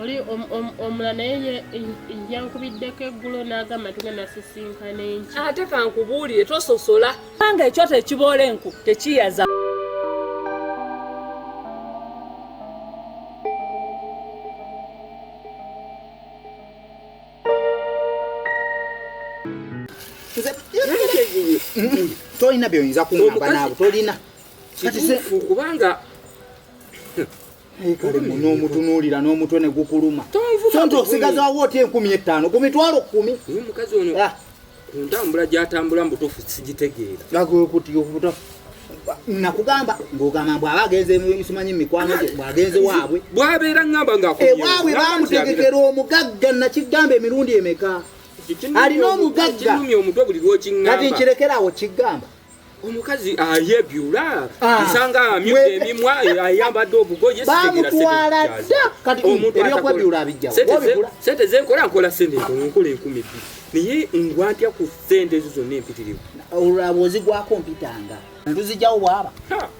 oli omula naye yankubiddeko eggulo n'agamba nti genda sisinkana enki ate kankubuulire tososola kubanga ekyoto ekiboola enku tekiyaza tolina byoyinza kuŋamba naabo tolina kubanga nomutunuulira n'omutwe ne gukuluma sonti osigazawo oti enkumi ettaano ku mitwalo kkumi omukazi ono ah. ku ntambula gyatambula mu butuufu sigitegeera nakugamba ng'ogamba mbu aba agenze simanyi mikwano gye bwagenze waabwe bwabeera ngamba ngaewaabwe eh, bamutegekera omugagga nakigamba emirundi emeka alina omugagga kati nkirekerawo kigamba omukazi ayebyula ah. nsanga amyuka emimwa ayambadde obugoye bamutwala dda kati ebyokwebyula abijjawo sente zenkola nkola sente ntono nkola enkumi bbiri naye ngwantya ku sente ezo zonna empitirivu olwaba ozigwako mpitanga luzijjawo bwaba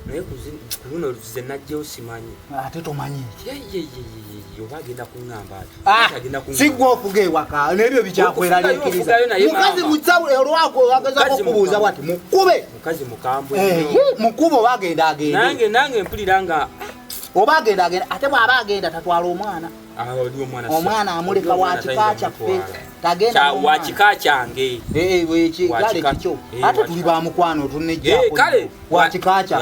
naye luno luze najjewo simanyi ate tomanyi Ah, sigwa ofuga ewaka nebyo bikyakweraliikiriza mukazi musawo olwako wagezako okubuuza bwati mukube eh, mukube oba agenda agendeoba agenda agenda ate bwaba agenda tatwala omwana ah, omwana amuleka wakika kyaffe tagendawakika kyange eh, eh, kale kikyo ate tuli bamukwano tunejjakale wakikakyo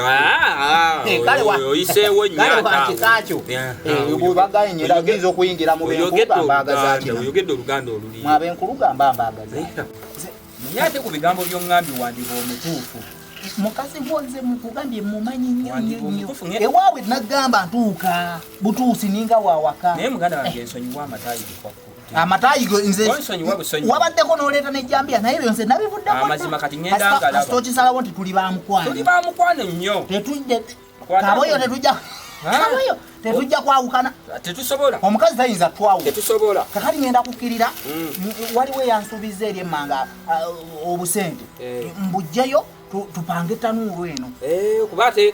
oyinza okuyingira mubenkulugambaaoyogedde oluganda olulimwabenkulugamba mbagazaye ate ku bigambo byongambi wandiba omutuufu mukazi woze mukugambye mumanyi nnyo nnyo nnyo ewaabwe nagamba ntuuka butuusi ninga wawaka naye muganda wange ensonyiwa amatayi bikwakku amatayi wabaddeko noleeta nejambiya naye byonse nabivuddeokisalawo nti tuli bamukwanobamukwano nyo kaboyo tetujja kaboyo tetujja kwawukana tetusobola omukazi tayinza twawu tetusobola kakati ngenda kukkirira mm. waliwo eyansuubiza eri emmanga uh, obusente eh. mbujjeyo tupange tanuulu eno eh, kuba ate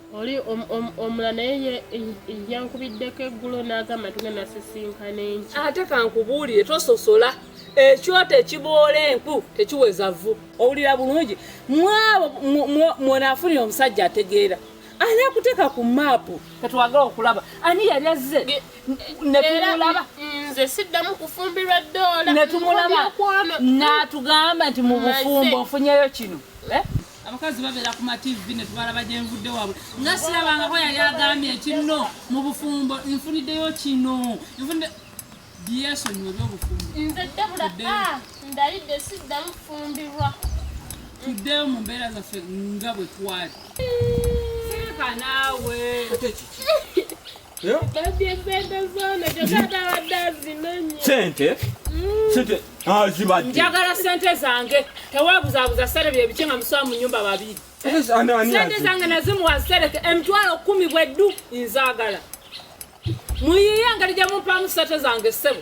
oli omula naye yankubiddeko eggulo n'agamba tugenda sisinkana enki ate kankubuulire tososola ekyoto ekiboola enku tekiweza vvu owulira bulungi mwabo mwenaafunira omusajja ategeera ani akuteeka ku maapu katwagala okulaba ani yali azze netumulaba nze siddamu kufumbirwa ddoola netumulaba n'atugamba nti mu bufumbo ofunyeyo kino eh? abakazi babeera ku mativi ne tubalaba gye nvudde waabwe nga sirabangako yali agambye kinno mu bufumbo nfuniddeyo kino nfunidde byesonyiwe byobufumbo nze debula ah, ndayidde siddamu fumbirwa tuddeyo mu mbeera zaffe nga bwe twali sirika naawe sente sente azibadde njagala sente zange tewebuzabuza sente byebiki nga musowa mu nyumba babiri sente zange nazimuwa sereke emitwalo kumi bweddu nzagala muyiye engeri gyemumpamu sente zange ssebo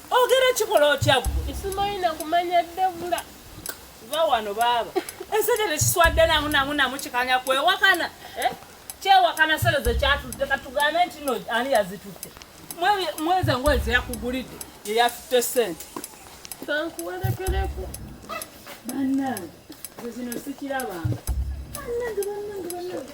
Ogera kikola otya gwe? Simanyi na kumanya Debula. Va wano baaba. Ensajja tekiswadde namu namu namu kikanya kwewakana. Eh? Kyewakana sere ze kyatudde katugambe nti no ani yazitutte. Mweze ngoye ze yakugulidde ye yatutte ssente. Kankuwerekereko. Bannange, zino sikirabanga. Bannange, bannange, bannange.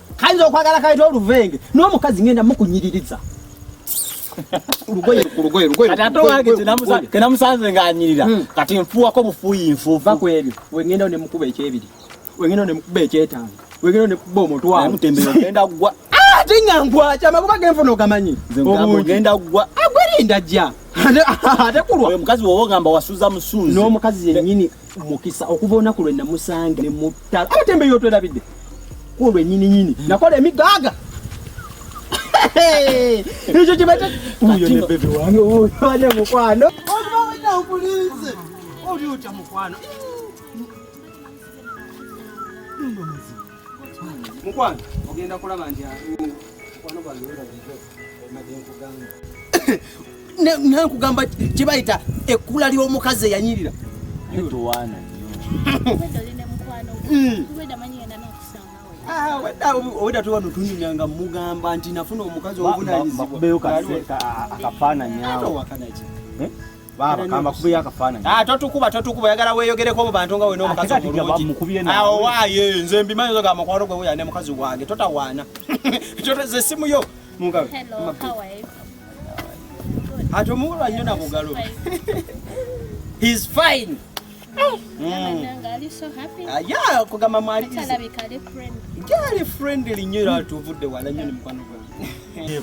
kayinza okwagala kayita oluvenge n'omukazi ngenda mukunyiririza lugoye ku lugoye lugoye kati ate wange tenamusanze ng'anyirira hmm. kati nfuuwako bufuuyi nfuufu va ku ebyo wengenda ne mukuba ekyebiri wengenda ne mukuba ekyetaano wengenda ne mukuba omutwalo ogenda kugwa ah, ate nga nkwaca amakuba genfuna ogamanyi ogenda kugwa agwerinda ah, jja ate kulwa omukazi woba ogamba wasuza musuuzi n'omukazi yennyini mukisa okuva olunaku lwe namusange ne mutta abatembeyi otwerabidde kulwe nyini nyini hmm. nakola emigaaga ekyo kibata uyo ne bebe wange uyo ane mukwano obaona okulinze oli otya mukwano mukwano ogenda kulaba nti mukwano gwange nankugamba kyebayita ekkula ly'omukazi eyanyirira obwedda tuba notunyumya nga mugamba nti nafuna omukazi obuvunanyizibwaakafaananyawo Baba kamba kubi akafananyi. Ah totukuba totukuba yagala weyogereko mu bantu nga we n'omukazi omulungi. Awo ah, waaye nze mbimanyi zo ga makwaro gwe ya ne mukazi wange totawaana. Toteze simu yo. Mugabe. Hello, how are you? Ato muwala nnyo na bugalo. He's fine. kugamba mwaliali friendly nyo era tuvudde wala nyo ne mukwano gwange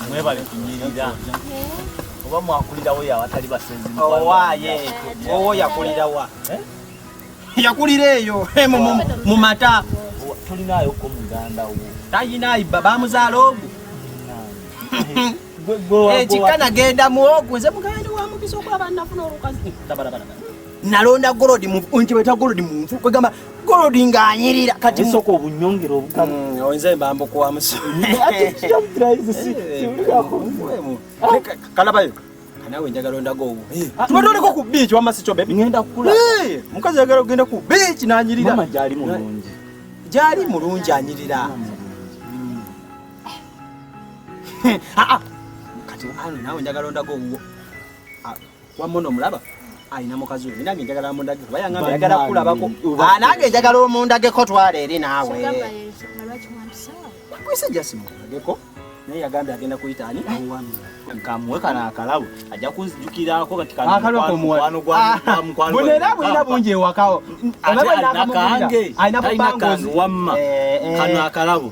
mwebale kunyirira oba mwakulirawo yawatali basenzi owaye owo yakulirawa eh? yakulira eyo eh, mu mata tulinayo ko muganda wo tayinayi bamuzaala ogu ekikka nagenda muwogo nze mugandi wa mukisa okulaba nafuna olukazi nalonda golodi nti bweta golodi munfu kwegamba golodi ng'anyirira kati nsooka obunyongera obugamu mm, nze mbamba okuwamuso kalabayo nawe njagala ondaga owo eh. ah, tuba toliko ku biiki wamma sikyo bebi ngenda kukula eh, mukazi yagala okugenda ku biiki n'anyirira gyali mulungi anyirira ah, ah. kati anu nawe njagala ondaga owuwo ah, wamona omulaba alina mukazi we nange njagala mundage kuba yangamba yagala kulabako nange njagala omundageko twala eri naawe kwese jasi mundageko naye yagambye agenda kuyita ani kamuwe kano akalabo ajja kunzijukirako katimukwano gwamukwanoera bulina bungi ewakawo alina kange alina kange wamma kano akalabo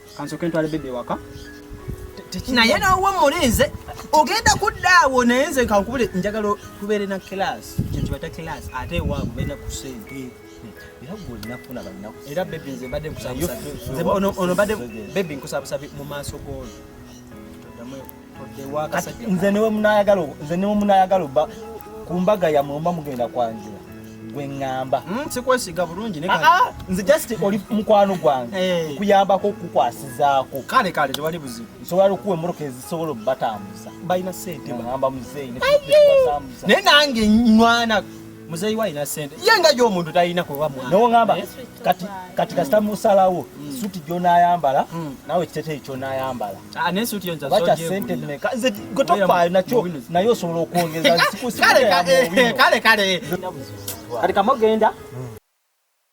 kansoke ntwale bebe ewaka naye nawe mulinze ogenda kudda awo naye nze kankubule njagala tubeere na kilasi kyentibata kilasi ate ewaabwe beera ku sente era gwe olinaku na bannaku era bebi nze mbadde nkusabusabi ono mbadde bebi nkusabusabi mu maaso g'ono nze niwe munayagala nze niwe munayagala oba ku mbaga yamwe oba mugenda kwanjula gwe ŋŋamba hmm, sikwesiga bulungi ah, ah, nze just oli mukwano gwange eh. nkuyambako okukukwasizaako kale kale tewali buzibu nsobola okuwa emmotoka ezisobola obubatambuza balina sente ŋŋamba muzeeyi naye nange nywana muzeeyi wa alina sente ye nga yo omuntu talina kuba mwana nawe ngamba eh? kati kati kasita musalawo hmm. suti gyonayambala hmm. nawe ekiteteeyi kyonayambala ah, bakya sente meka nze gwe tofaayo nakyo naye osobola okwongeza kale kale kati kamogenda hmm.